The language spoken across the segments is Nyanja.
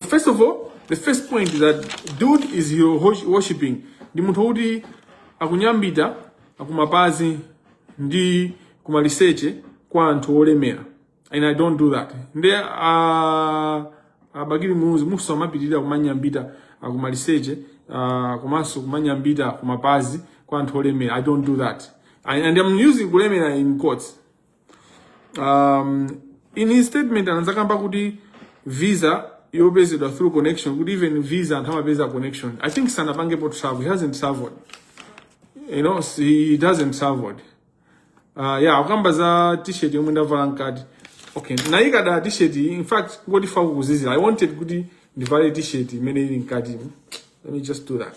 first of all the first point is that dude is hero hosh- worshiping ndi munthu wokuti akunyambita kumapazi ndi kumaliseche kwa anthu olemera and i don't do that nde uh, a bakili muluzi muzapitirira kumanyambita kumaliseche uh, komanso kumanyambita kumapazi kwa anthu olemera i don't do that and, and i'm using kulemera in quotes um, in his statement anazakamba kuti visa yopezedwa through connection kuti even visa anthu amapeza connection i think sanapangepo travel he hasn't traveled you know he doesn't traveled uh, yeah akukamba za t-shirt yomwe ndavala mkati okay nayi kaya t-shirt in fact ngoti chifukwa kukuzizira i wanted kuti ndivale t-shirt imene ili mkati let me just do that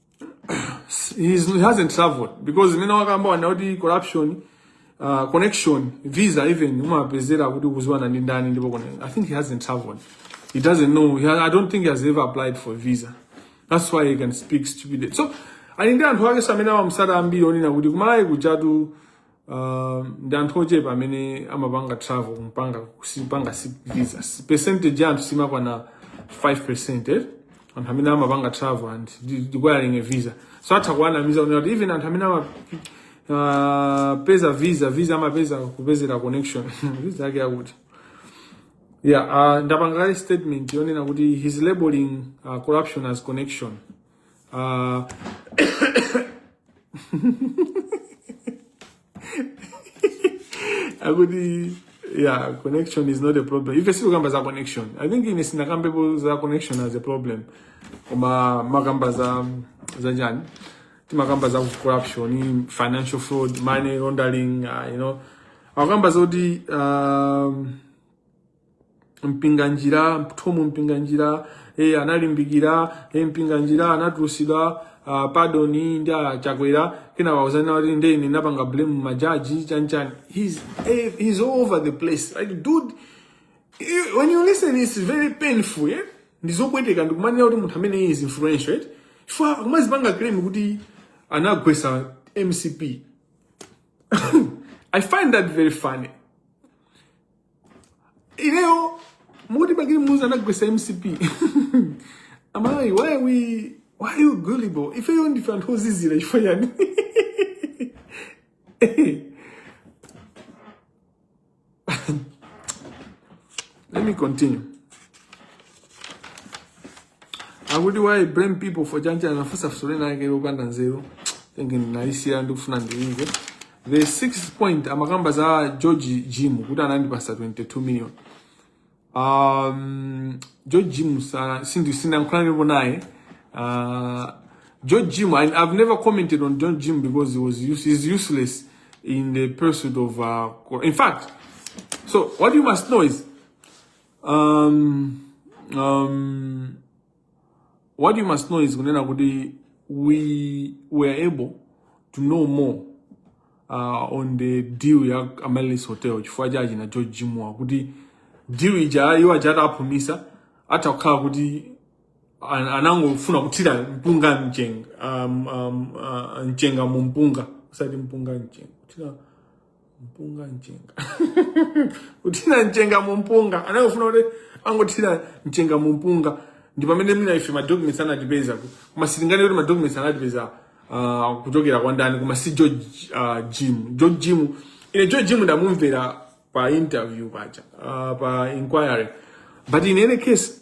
he hasn't traveled because mmene wakamba wanda kuti corruption uh, connection visa even umapezera kuti ukuziwana ndi ndani ndipo kone i think he hasn't traveled he doesn't know he has, i don't think he has ever applied for visa that's why he can speak stupid so ali ndi anthu akenso amene amamusata ambiri onena kuti kumalawi kujatu uh, ndi anthu ochepa amene amapanga travel kupanga sipanga si visa Si- percentage ya anthu simakwana 5 percent anthu amene amapanga travel and requiring a visa so atha kuwanamiza kunena kuti even anthu amene ama uh, peza visa visa amapeza kupezera connection visa yake yakuti yeah uh, ndapanga kale statement yonena kuti he's labeling uh, corruption as connection Uh, akuti yeah connection is not a problem ife sitikukamba za connection i think ine sinakambepo za connection as a problem koma timakamba za za chani timakamba za corruption financial fraud money laundering uh, you know akukamba zoti um, mpinganjira thom mpinganjira e, analimbikira e, mpinganjira anatulusidwa ah, pardon ndi a chakwera kenaka uzaona kuti ndi ine napanga blame majaji chanchani he's, eh, he's all over the place like dude you- when you listen it's very painful eh? ndizopweteka ndikumaona kuti munthu amene is influential eh? chifukwa kumazipanga claim kuti anagwesa mcp i find that very funny ineyo mukuti bakili muluzi anagwetsa mcp i'm like why are we why are you gullible ifeyo ndife anthu ozizira chifukwa chani let me continue akuti why blame people for chancha anafunsa funso lina yake lopanda nzeru thinking ndinalisiya ndikufuna ndiimve the sixth point amakamba za george jim kuti anandipasa 22 million um, george jim sa- sindi- sindankhulanipo naye uh, george jim I, i've never commented on george jim because he was use, he's useless in the pursuit of uh, co- in fact so what you must know is um, um, what you must know is kunena kuti we were able to know more uh, on the deal ya Amaryllis Hotel chifukwa cha achina George Jimwa kuti deal ija iwo aja ataphumitsa atha kukhala kuti an- anangofuna kuthira mpunga mchenga um, um, uh, mchenga mu mpunga osati mpunga mchenga kuthira mpunga mchenga kuthira mchenga mu mpunga anangofuna kuti angothira mchenga mu mpunga ndi pamene mwina ife madocuments anatipeza ku- koma sitinganene kuti madocuments anatipeza ah, kuchokera kwa ndani koma si george ah, jim george jim ine george jim ndamumvera pa interview pacha ah, pa inquiry but in any case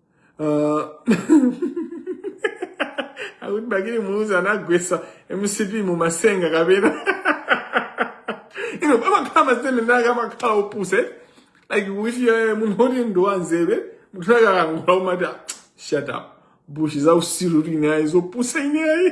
uh, akuti bakili muluzi anagwetsa mcp mu masenga kapena you know pamakhala masitende ndake amakhala opusa like if eh, munthu oti ndi wanzeru munthu ake akangula umati "Ah, shut up bullshit za utsiru tinayi zopusa ineyi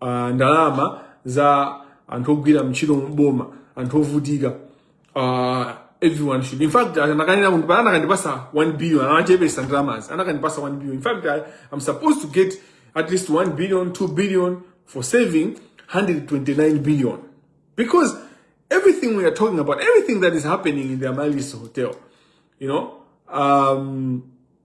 uh, ndalama za anthu ogwira mntchito mboma anthu ovutika uh, everyone should in fact anakanena kuti pala anakandipasa 1 billion anachepesa ndalamazi anakandipasa 1 billion in fact I, i'm supposed to get at least 1 billion 2 billion for saving 129 billion because everything we are talking about everything that is happening in the Amalys hotel you know um,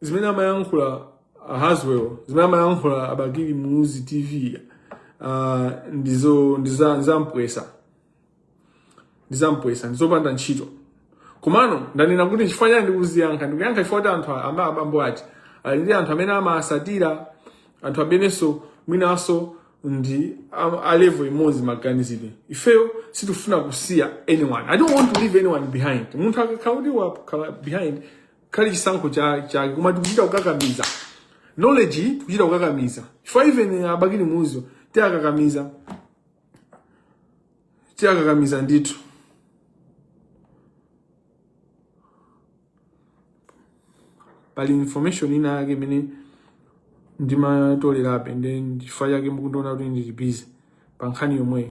zimene amayankhula uh, haswell zimene amayankhula abakili muluzi tv uh, ndizo ndiza- ndizampwesa ndizampwesa ndizopanda ntchito komano ndanena kuti chifukwa chiyani ndikuziyankha ndikuyankha chifukwa kuti anthu a- abambo aja ali ndi anthu amene amawatsatira anthu amenenso mwinanso ndi a- a level imodzi maganizidwe ifeyo sitifuna kusiya anyone i don't want to leave anyone behind munthu akakhala kuti wakhala behind khale chisankho chake koma tikuchita kukakamiza knowledge iyi tikuchita kukakamiza chifukwa even abakili muluzi tiwakakamiza tiwakakamiza ndithu pali information ina yake imene ndimatolerabe then chifukwa chake mukundiona kuti ndili busy pa nkhani yomweyo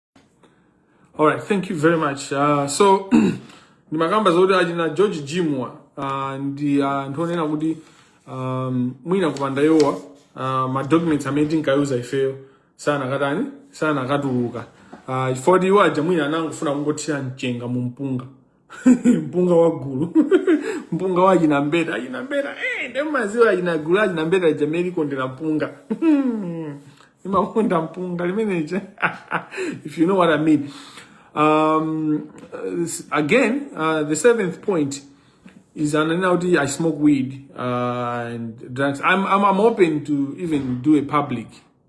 All right, thank you very much. Uh, so ndimakamba zoti achina George Jimwa uh, ndi anthu uh, onena kuti um, mwina kupanda iwowa uh, ma documents amene tinkayuza use ifeyo sakanatani sakanatuluka uh, chifukwa kuti iwo aja mwina anangofuna kungothira mchenga mu mpunga mpunga wa gulu mpunga wa achina mbeta achina mbeta eh, ndimadziwa achina gulu achina mbeta lija mmene limakondera mpunga imakonda mpunga limeneje if you know what i mean um, uh, s- again uh, the seventh point is ananena kuti i smoke weed uh, and drugs I'm, I'm, i'm open to even do a public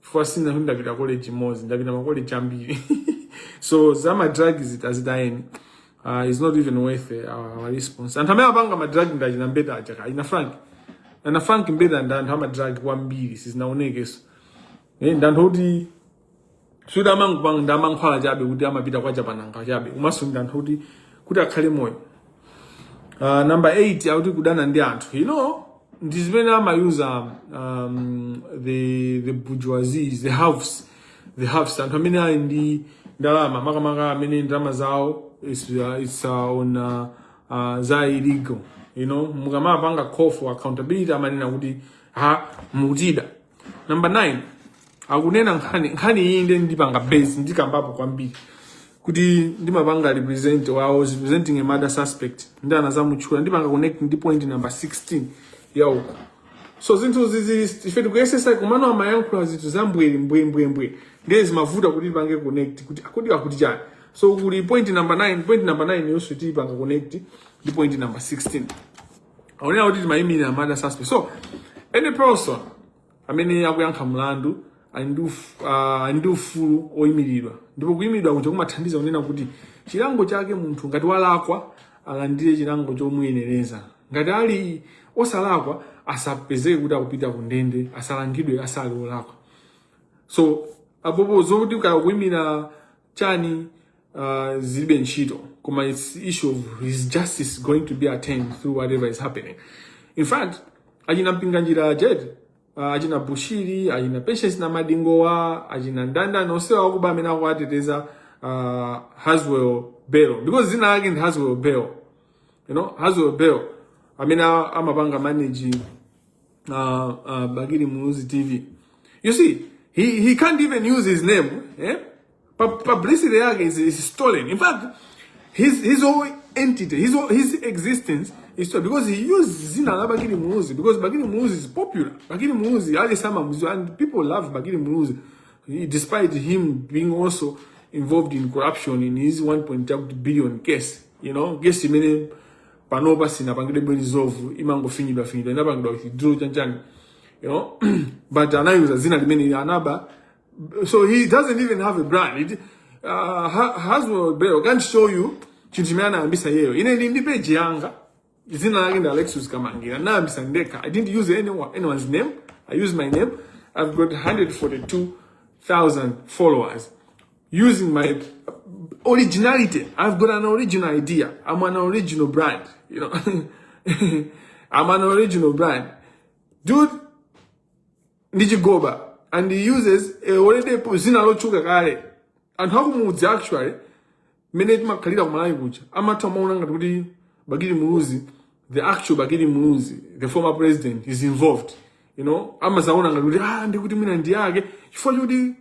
chifukwa sikuti ndapita college imodzi ndapita makoleji ambiri so za madrug izi zitayeni uh, it's not even worth, uh, our response anthu amene apanga madrug ndi achina mbeta aja kaya a frank ana frank mbeta ndi anthu amadrug kwambiri sizinaonekeso eh, ndi anthu oti suti amangopanga za mankhwala chabe kuti amapita kwa chapananga chabe komanso ndi anthu oti kuti akhale moyo uh, number 8 akuti kudana ndi anthu you know ndi zimene amayuza um, the the bourgeoisies the haves the haves anthu amene ali ndi ndalama makamaka amene ndalama zawo is, uh, is, uh, ndi, uh, uh, za illegal you know mukamapanga call for accountability amanena kuti ha mukutida number 9 akunena nkhani nkhani iyi ndi ndipanga base ndikambapo kwambiri kuti ndimapanga represent or I was representing a murder suspect ndi anazamutchula ndipanga connect ndi point number 16 ya uko so zinthu izizi ife tikuyesetsa komano amayankhula zinthu za mbweri mbwe mbwe mbwe ndiye zimavuta kuti tipange connect kuti kodi akuti chani so kuli point number 9 point number 9 yonse tipanga connect ndi point number 16 akunena kuti ndimayimirira murder suspect so any person amene akuyankha mlandu ali ndi uf- ah, ali ndi ufulu oyimiridwa ndipo kuyimiridwa kuja kumathandiza kunena kuti chilango chake munthu ngati walakwa alandire chilango chomuyenereza ngati ali osalakwa asapezeke kuti akupita ku ndende asalangidwe asali olakwa so apopo zokuti kaya kuyimira chani uh, zilibe ntchito koma its issue of his justice going to be attained through whatever is happening in fact achina mpinganjira ajeti uh, achina bushiri achina patience na madingowa achina ndanda nosewa akuba amene akuwateteza uh, haswell bell because zina lake ndi haswell bell you know haswell bell amene a- amapanga manage uh, uh, Bakili Muluzi TV. You see, he, he can't even use his name. Eh? Pa publicity yake is, is stolen. In fact, his his whole entity, his whole, his existence is stolen because he used zina la Bakili Muluzi because Bakili Muluzi is popular. Bakili Muluzi ali ndi mizu and people love Bakili Muluzi He- despite him being also involved in corruption in his 1.2 billion case. You know, case imene panopa sinapangidwe resolve imangofinyidwa finyidwa inapangidwa withdraw chanchani you know but anayuza zina limene anaba So he doesn't even have a brand. It, uh, Ha- Haswell Bell can't show you chinthu chimene anayambisa iyeyo. Ine ndi ndi page yanga. Dzina lake ndi Alexis Kamangira. Anayambisa ndekha. I didn't use anyone, anyone's name. I used my name. I've got 142,000 followers using my originality. I've got an original idea. I'm an original brand. You know, I'm an original brand. Dude, ndi chigoba and he uses already po- zina lotchuka kale anthu akumudzi actually mmene timakhalira kumalawi kuja amatha kumaona ngati kuti bakili muluzi the actual bakili muluzi the former president is involved you know amadzaona ngati kuti ah ndikuti mwina ndi yake chifukwa choti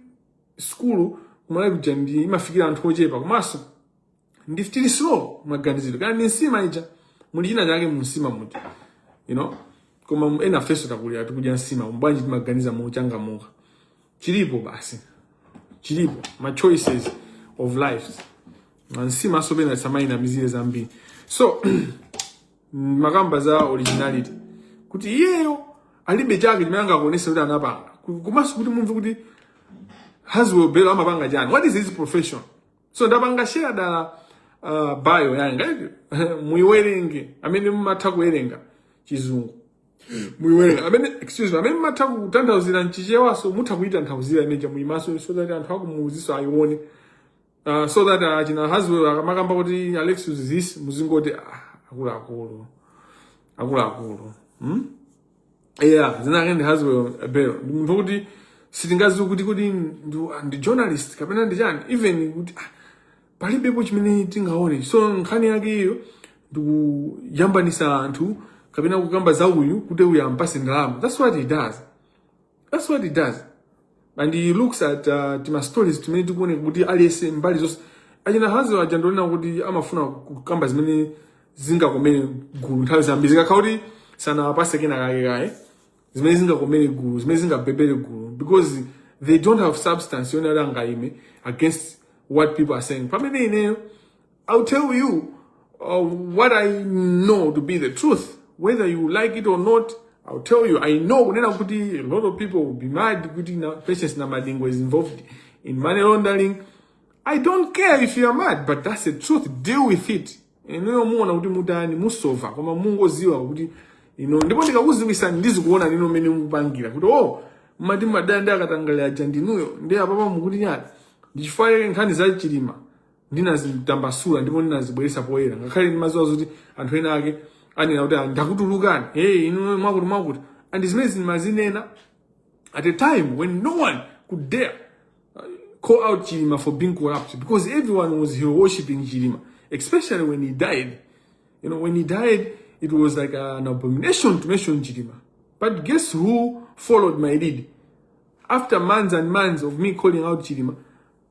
sukulu kumalawi kuja ndi imafikira anthu ochepa komanso ndiye tili slow maganizidwe kaya ndi nsima ija muli china chake mu nsima muja you know koma ena ifenso takulira tikudya nsima bwanji timaganiza mochangamuka chilipo basi chilipo ma choices of lives nsima so pena samaina mizire zambiri so mukakamba za originality kuti iyeyo alibe chake chimene angakuonetse kuti anapanga komanso kuti mumve kuti Haswell Belo amapanga chani what is his profession so ndapanga share dala uh, bio yanga iyo muiwerenge amene mumatha kuwerenga chizungu muiwerenge amene excuse me amene mumatha kutanthauzira mchichewa so mutha kuitanthauzira imene ija muimaso so that anthu akumuuziso ayione uh, so that achina uh, Haswell akamakamba kuti Alexious this muzingoti ah, akuluakulu akuluakulu hmm? yeah dzina lake ndi haswell belo ndi munthu wokuti sitingaziwe kuti kodi ndi- ndi journalist kapena ndi chani even kuti ah, palibepo chimene tingaone so nkhani yake iyo ndikuyambanisa anthu kapena kukamba za uyu kuti uyu ampase ndalama that's what he does That's what he does. And he looks at uh, tima stories timene tikuone kuti aliyese mbali zonse achina Haswell aja ndonena kuti amafuna kukamba zimene zingakomere gulu nthawi zambiri zikakhala kuti sanawapase kena kake kaye zimene zingakomere gulu zimene zingabhebere gulu because they don't have substance yoona angaime against what people are saying pamene ineyo I'll tell you uh, what I know to be the truth. Whether you like it or not, I'll tell you. I know a lot of people will be mad kuti Patience Namadingo is involved in money laundering. I don't care if you are mad, but that's the truth. Deal with it. Inuyo muona kuti mutani musova koma mungoziwa kuti you know ndipo ndikakuziwisa ndizikuonani mene mupangira kuti omati madanda akatangale aja ndinuyo ndi apapa mukuti nyati ndichifukwa nkhani za chilima ndinazitambasula ndipo ndinazibweretsa poyera ngakhale ndimaziwa zoti anthu ena ake anena kuti "Ah, ndakutulukani hey inu mwakuti mwakuti and zimenezi ndimazinena at a time when no one could dare uh, call out Chilima for being corrupt because everyone was hero worshipping Chilima, especially when he died. You know, when he died, it was like an abomination to mention Chilima. But guess who followed my lead? After months and months of me calling out Chilima,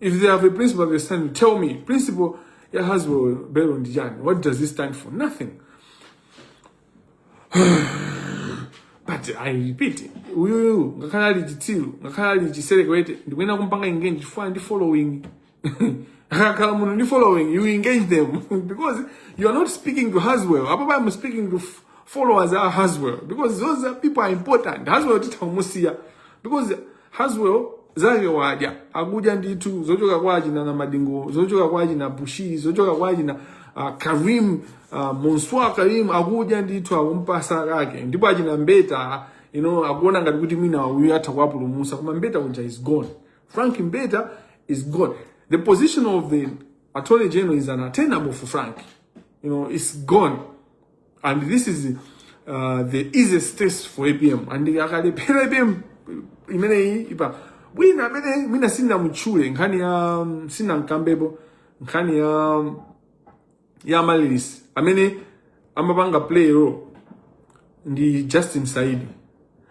if they have a principle that they stand on tell me principle ya haswell belo ndi chani what does he stand for nothing but i repeat uyuyu ngakhale ali chitsiru ngakhale ali chiserekwete ndikuyenera kumpanga engage chifukwa ndi following akakhala munthu ndi following you engage them because you are not speaking to haswell apapa i'm speaking to f- followers a haswell because those people are important haswell titha kumusiya because Haswell zake wadya akudya ndithu zochoka kwa achina namadingo zochoka kwa achina bushiri zochoka kwa achina uh, karim uh, monswa karim akudya ndithu akumpasa kake ndipo achina mbeta you know akuona ngati kuti mwina uyu atha kuwapulumusa koma mbeta uja is gone frank mbeta is gone the position of the attorney general is unattainable for frank you know it's gone and this is uh, the easiest test for apm ndipo akalephera apm imeneyi apm wina amene mwina sinamutchule nkhani ya um, sinamkambepo nkhani ya um, ya ma release amene amapanga play role ndi justin saidi